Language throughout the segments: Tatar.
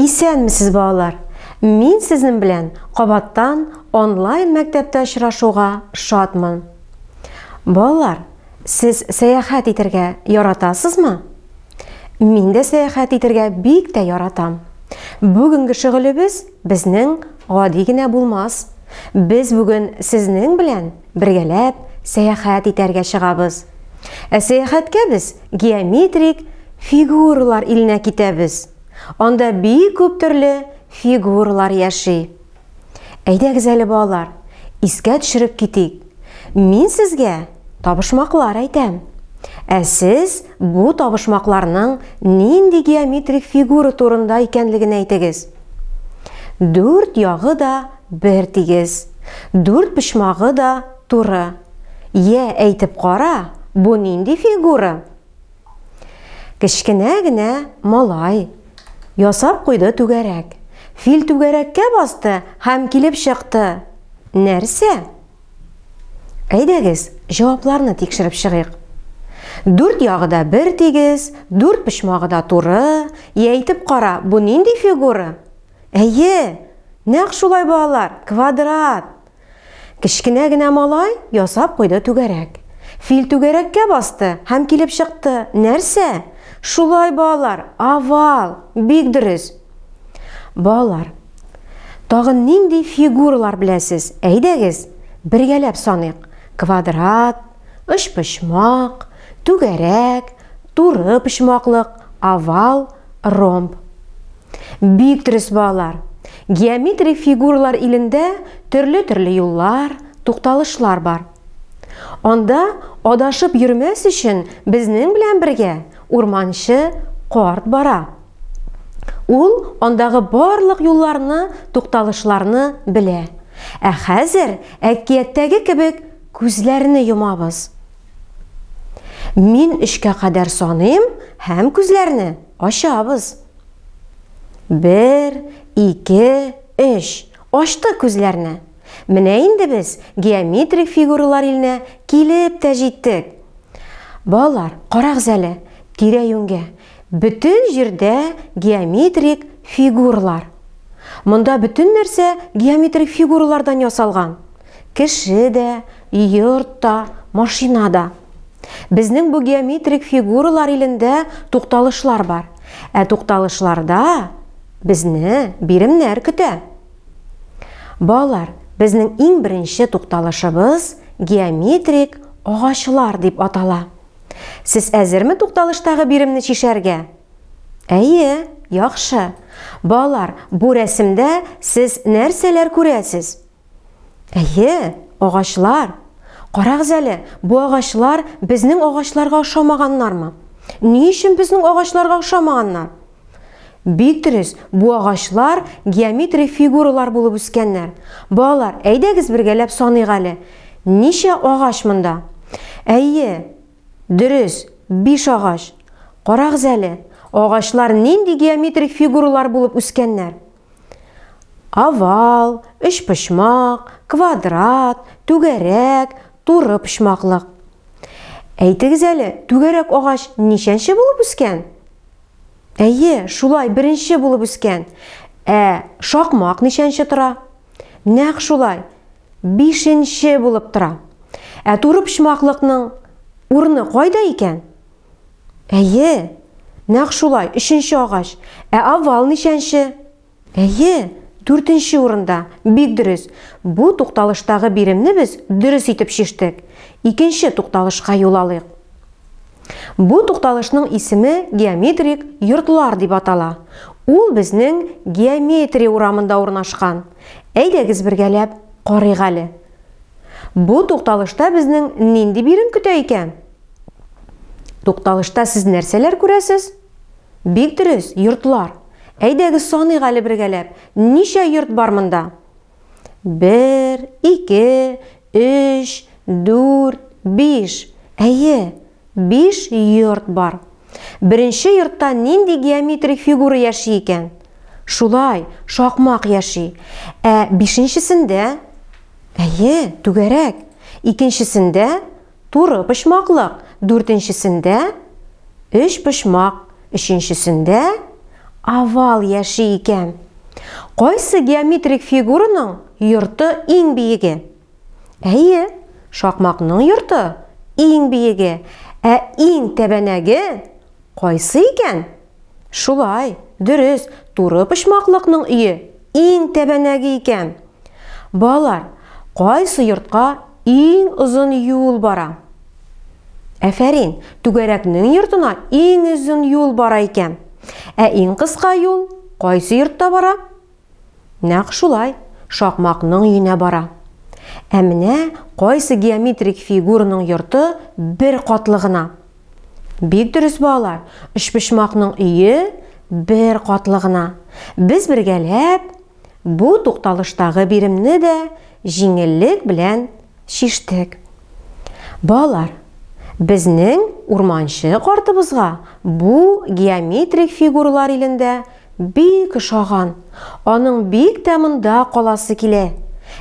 Исәнмесез балалар! Мин сезнең белән кабаттан онлайн мәктәптә очрашуга шатмын. Балалар, сез сәяхәт итергә яратасызмы? Мин дә сәяхәт итергә бик тә яратам. Бүгенге шөгылебез безнең гади генә булмас. Без бүген сезнең белән Бергәләп сәяхәт итәргә чыгабыз. Ә сәяхәткә без геометрик фигуралар иленә китәбез. Анда бик күп төрле фигуралар яши. Әйдәгез әле балалар, искә төшереп китик. Мин сезгә табышмаклар әйтәм. Ә сез бу табышмакларның нинди геометрик фигура турында икәнлеген әйтегез. Дүрт ягы да Бер тигез. Дүрт почмагы да туры. Йә, әйтеп кара, бу нинди фигура? Кечкенә генә малай ясап куйды түгәрәк. Фил түгәрәккә басты һәм килеп чыкты. Нәрсә? Әйдәгез, җавапларны тикшереп чыгыйк. Дүрт ягы да бер тигез, дүрт почмагы да туры. Йә, әйтеп кара, бу нинди фигура? Әйе, нәкъ шулай, балалар, квадрат. Кечкенә генә малай ясап куйды түгәрәк. Фил түгәрәккә басты һәм килеп чыкты. Нәрсә? Шулай, балалар, овал. Бик дөрес. Балалар, тагын нинди фигуралар беләсез? Әйдәгез, бергәләп саныйк. Квадрат, очпочмак, түгәрәк, Туры почмаклык, овал, ромб. Бик дөрес балалар! Геометрик фигуралар илендә төрле-төрле юллар, тукталышлар бар. Анда адашып йөрмәс өчен безнең белән бергә урманчы карт бара. Ул андагы барлык юлларны, тукталышларны белә. Ә хәзер әкияттәге кебек күзләрне йомабыз. Мин өчкә кадәр саныйм һәм күзләрне ачабыз. Бер, ике, өч. Ачтык күзләрне. Менә инде без геометрик фигуралар иленә килеп тә җиттек. Балалар, карагыз әле, тирә-юньгә. Бөтен җирдә геометрик фигуралар. Монда бөтен нәрсә геометрик фигуралардан ясалган. Кеше дә, йорт та, машина да. Безнең бу геометрик фигуралар илендә тукталышлар бар. Ә тукталышларда безне биремнәр көтә. Балалар, безнең иң беренче тукталышыбыз геометрик агачлар дип атала. Сез әзерме тукталыштагы биремне чишәргә? Әйе, яхшы. Балалар, бу рәсемдә сез нәрсәләр күрәсез? Әйе, агачлар. Карагыз әле, бу агачлар безнең агачларга ошамаганнармы? Ни өчен безнең агачларга ошамаганнар? Бик дөрес, бу агачлар геометрик фигуралар булып үскәннәр. Балалар, әйдәгез бергәләп саныйк әле. Ничә агач монда? Әйе, дөрес, биш агач. Карагыз әле, агачлар нинди геометрик фигуралар булып үскәннәр? Овал, өчпочмак, квадрат, түгәрәк, туры почмаклык. Әйтегез әле, түгәрәк агач ничәнче булып үскән? Әйе, шулай, беренче булып үскән. Ә шакмак ничәнче тора? Нәкъ шулай, бишенче булып тора. Ә туры почмаклыкның урыны кайда икән? Әйе, нәкъ шулай, өченче агач. Ә овал ничәнче? Әйе, дүртенче урында. Бик дөрес. Бу тукталыштагы биремне без дөрес итеп чиштек. Икенче тукталышка юл алыйк. Бу тукталышның исеме геометрик йортлар дип атала. Ул безнең геометрия урамында урнашкан. Әйдәгез бергәләп карыйк әле. Бу тукталышта безнең нинди бирем көтә икән? Тукталышта сез нәрсәләр күрәсез? Бик дөрес, йортлар. Әйдәгез саныйк әле бергәләп. Ничә йорт бар монда? Бер, ике, өч, дүрт, биш. Әйе, биш йорт бар. Беренче йортта нинди геометрик фигура яши икән? Шулай, шакмак яши. Ә бишенчесендә? Әйе, түгәрәк. Икенчесендә? Туры почмаклык, дүртенчесендә өчпочмак, өченчесендә овал яши икән. Кайсы геометрик фигураның йорты иң биеге? Әйе, шакмакның йорты иң биеге. Ә иң тәбәнәге кайсы икән? Шулай, дөрес, туры почмаклыкның өе иң тәбәнәге икән. Балалар, кайсы йортка иң озын юл бара? Әфәрин, түгәрәкнең йортына иң озын юл бара икән. Ә иң кыска юл кайсы йортта бара? Нәкъ шулай, шакмакның өенә бара. Ә менә кайсы геометрик фигураның йорты бер катлы гына? Бик дөрес балалар, өчпочмакның өе бер катлы гына. Без бергәләп бу тукталыштагы биремне дә җиңеллек белән чиштек. Балалар, безнең урманчы картыбызга бу геометрик фигуралар илендә бик ошаган, аның бик тә монда каласы килә.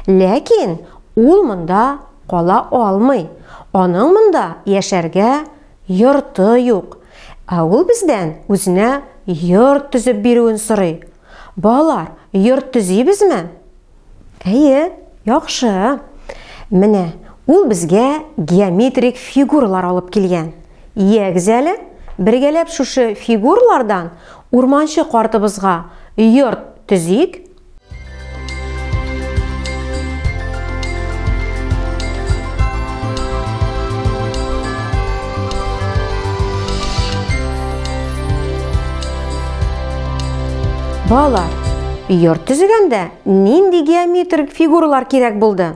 Ләкин ул монда Кала алмый, аның монда яшәргә йорты юк. Ә ул бездән үзенә йорт төзеп бирүен сорый. Балалар, йорт төзибезме? Әйе, яхшы. Менә ул безгә геометрик фигуралар алып килгән. Ягез әле, бергәләп шушы фигуралардан урманчы картыбызга йорт төзик. Балалар, йорт төзегәндә нинди геометрик фигуралар кирәк булды?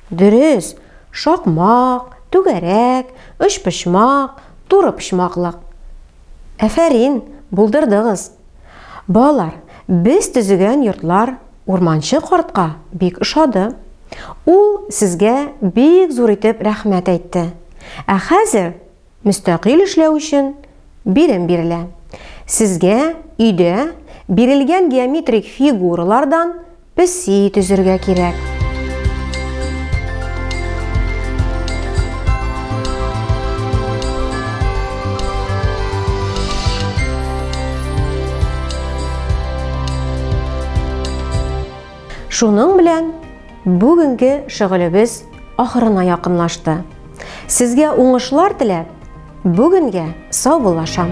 Дөрес, шакмак, түгәрәк, өчпочмак, туры почмаклык. Әфәрин, булдырдыгыз! Балалар, без төзегән йортлар Урманчы картка бик ошады. Ул сезгә бик зур итеп рәхмәт әйтте. Ә хәзер мөстәкыйль эшләү өчен бирем бирелә. Сезгә өйдә бирелгән геометрик фигуралардан Песи төзергә кирәк. Шуның белән бүгенге шөгылебез ахырына якынлашты. Сезгә уңышлар теләп, Бүгенгә саубуллашам!